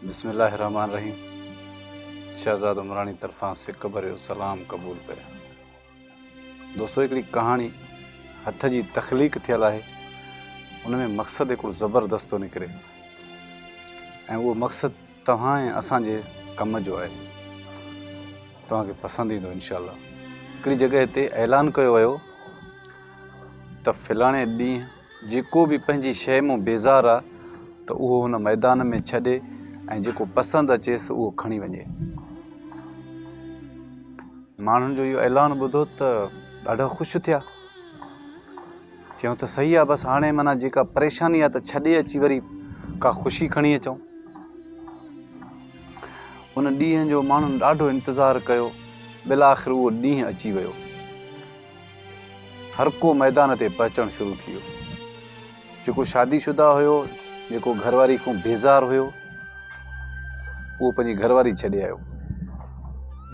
بسم الله الرحمن الرحيم شهزاد عمراڻي طرفان سڪ ڀريو سلام قبول ڪيا دوستو هڪڙي ڪهاڻي هٿ جي تخليق ٿيل آهي ان ۾ مقصد هڪڙو زبردست ٿو نڪري ۽ اهو مقصد توهان ۽ اسان جي ڪم جو آهي توهان کي پسند ايندو انشاء الله هڪڙي جڳهه تي اعلان ڪيو ويو ته فلاڻي ڏينهن جيڪو به پنهنجي شيء مون بيزار آهي ته اهو هن ميدان ۾ ڇڏي ۽ جيڪو پسند اچيس اهو کڻي وڃي ماڻهن جو اهو اعلان ٻڌو ته ڏاڍا خوش ٿيا چيو ته صحيح آ بس هاڻي معنيٰ جيڪا پريشاني آ ته ڇڏي اچي وري ڪا خوشي کڻي اچون. ان ڏينهن جو ماڻهن ڏاڍو انتظار ڪيو بالاخر اهو ڏينهن اچي ويو. هرڪو ميدان تي پهچڻ شروع ٿي ويو. جيڪو شادي شده هيو جيڪو گهر واري کون بيزار هيو اهو پنهنجي گهر واري ڇڏي آيو.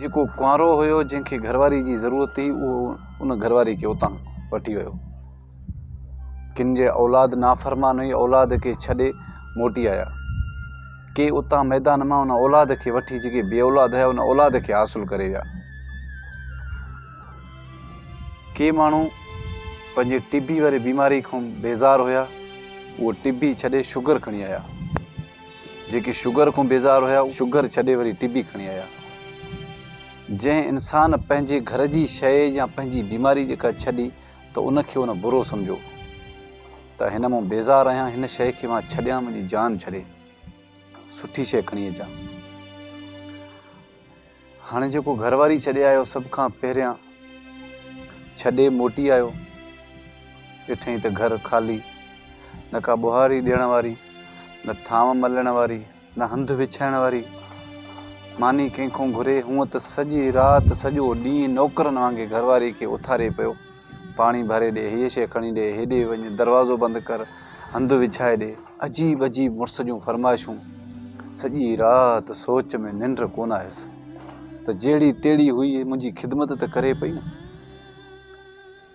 جيڪو ڪنوارو هيو جنهن کي گهر واري جي ضرورت هئي اهو ان گهرواري کي اتان وٺي ويو. ڪن جي اولاد نافرمان هئي، اولاد کي ڇڏي موٽي آيا. ڪي اتان ميدان مان ان اولاد کي وٺي جيڪي بي اولاد هيا ان اولاد کي حاصل ڪري ويا. ڪي ماڻهو پنهنجي ٽبي واري بيماري کان بيزار هيا، اهو ٽبي ڇڏي شگر کڻي آيا. جيڪي شگر کان بيزار هيا، شگر ڇڏي وري ٽبي کڻي آيا. جنهن انسان پنهنجي گهر جي شيء يا پنهنجي بيماري جيڪا ڇڏي ته ان کي ان برو سمجهيو ته هن مون بيزار آهيان هن شيء کي مان ڇڏيان منهنجي جان ڇڏي سٺي شيء کڻي اچان هاڻي جيڪو گهر واري ڇڏي آيو سڀ کان پهريان ڇڏي موٽي آيو ڏٺئي ته گهر خالي نه ڪا ٻوهاري ڏيڻ واري نه ٿانو ملڻ واري نه هنڌ وڇائڻ واري ماني ڪنهن کان گهري، هونء ته سڄي رات سڄو ڏينهن نوڪرن وانگي گهرواري کي اٿاري پيو، پاڻي ڀري ڏي، هيء شيء کڻي ڏي، هيڏي وڃ، دروازو بند ڪر، هنڌ وڇائي ڏي، عجيب عجيب مڙس جون فرمائشون. سڄي رات سوچ ۾ ننڊ ڪونه آيس ته جهڙي تهڙي هئي منهنجي خدمت ته ڪري پئي نه.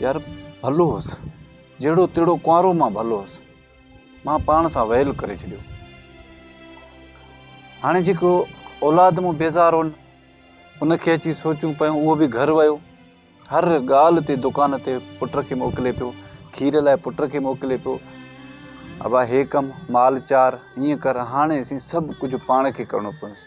يار ڀلو هوس، جهڙو تهڙو ڪنوارو مان ڀلو هوس، مان پاڻ سان ويل ڪري ڇڏيو. هاڻي جيڪو اولاد مون بيزار هون، ان کي اچي سوچون پيون، اهو به گهر ويو. هر ڳالهه تي دڪان تي پٽ کي موڪلي پيو، کير لاء پٽ کي موڪلي پيو، ابا هي ڪم، مال چار، هيئن ڪر، هاڻي سين سڀ ڪجهه پاڻ کي ڪرڻو پوندس.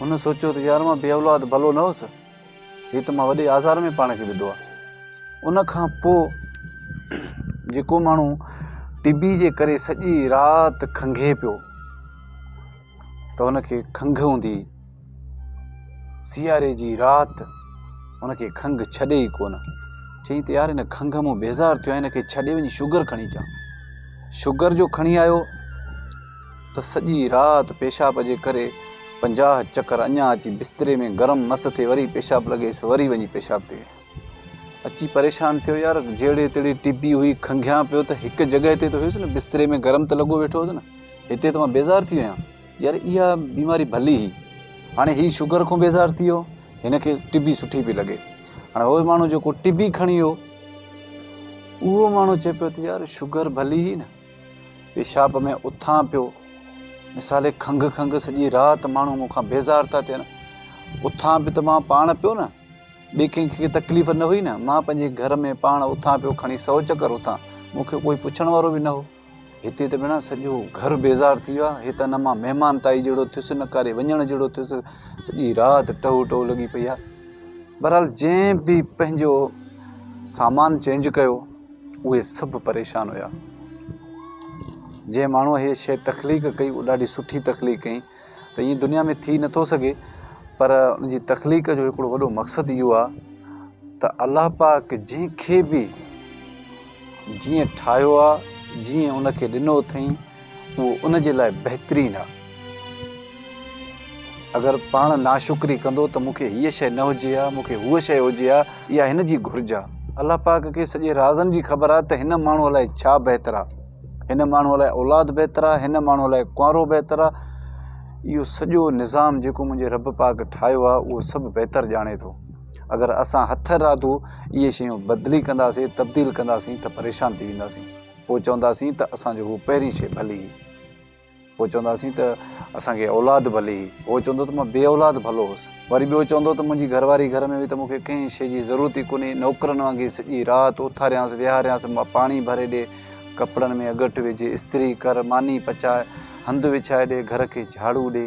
هن سوچيو ته يار مان بي اولاد ڀلو نه هوس، هي ته مان وڏي آزار ۾ پاڻ کي وڌو آهي. ان کان پوء جيڪو ماڻهو ٽي بي جي ڪري سڄي رات کنگهي پيو ته ان کي کنگهه هوندي ئي سياري جي رات ان کي کنگهه ڇڏي ئي ڪونه. چيائين ته يار هن کنگهه مون بيزار ٿيو آهيان هن کي ڇڏي وڃي شگر کڻي اچان. شگر جو کڻي آيو. ته سڄي رات پيشاب جي ڪري پنجاهه چڪر اڃا اچي بستري ۾ گرم مس ٿي وري پيشاب لڳيس وري وڃي پيشاب تي اچي پريشان ٿيو يار جهڙي تهڙي ٽبي هئي کنگهيان پيو ته هڪ جڳهه تي ته هيس نه بستري ۾ گرم ته لڳو ويٺو هوس نه هتي ته مان بيزار ٿي ويان يار اها بيماري ڀلي هئي هاڻي هي شگر کان بيزار ٿي ويو هن کي ٽبي سٺي پئي لڳي هاڻي هو ماڻهو جيڪو ٽبي کڻي ويو اهو ماڻهو چئي پيو ته يار شگر ڀلي هئي نه پيشاب ۾ اٿان پيو مثال کنگهه کنگهه سڄي رات ماڻهو مون کان بيزار ٿا ٿين اٿان به ته مان پاڻ پيو نه ٻي ڪنهن کي تڪليف نه هئي نه مان پنهنجي گهر ۾ پاڻ اٿان پيو کڻي سو چڪر اٿان مون کي ڪوئي پڇڻ وارو به نه هو هتي ته بنا سڄو گهر بيزار ٿي ويو هي ته نه مان مهمان تائي جهڙو ٿيس نه ڪاري وڃڻ جهڙو ٿيس سڄي رات ٽهو ٽهو لڳي پئي آهي بهرحال جنهن به پنهنجو سامان چينج ڪيو اهي سڀ پريشان هيا. جنهن ماڻهوء هيء شيء تخليق ڪئي اهو ڏاڍي سٺي تخليق ڪيائين ته ائين دنيا ۾ ٿي نٿو سگهي پر ان جي تخليق جو هڪڙو وڏو مقصد اهو آ ته الله پاڪ جنهن کي به جيئن ٺاهيو آ جيئن ان کي ڏنو اٿئين اهو ان جي لاء بهترين آهي. اگر پاڻ ناشڪري ڪندو ته مون کي هيء شيء نه هجي ها، مون کي هوء شيء هجي ها يا هن جي گهرج ها. الله پاڪ کي سڄي رازن جي خبر آهي ته هن ماڻهوء لاء ڇا بهتر آهي. هن ماڻهوء لاء اولاد بهتر آهي، هن ماڻهوء لاء ڪنوارو بهتر آهي. اهو سڄو نظام جيڪو منهنجي رب پاڪ ٺاهيو آهي، اهو سڀ بهتر ڄاڻي ٿو. اگر اسان هٿ ارادو اهي شيون بدلي ڪنداسين، تبديل ڪنداسين ته پريشان ٿي وينداسين. پوء چونداسين ته اسان جو هو پهرين شيء ڀلي هئي. پوء چونداسين ته اسان کي اولاد ڀلي هئي. اهو چوندو ته مان بي اولاد ڀلو هوس. وري ٻيو چوندو ته منهنجي گهر واري گهر ۾ هئي ته مون کي ڪنهن شيء جي ضرورت ئي ڪونهي. نوڪرن وانگي سڄي رات اٿاريانس، ويهاريانس، پاڻي ڀري ڏي، ڪپڙن ۾ اڳٽ وجهه، استري ڪر، ماني پچاء، هنڌ وڇائي ڏي، گهر کي جهاڙو ڏي.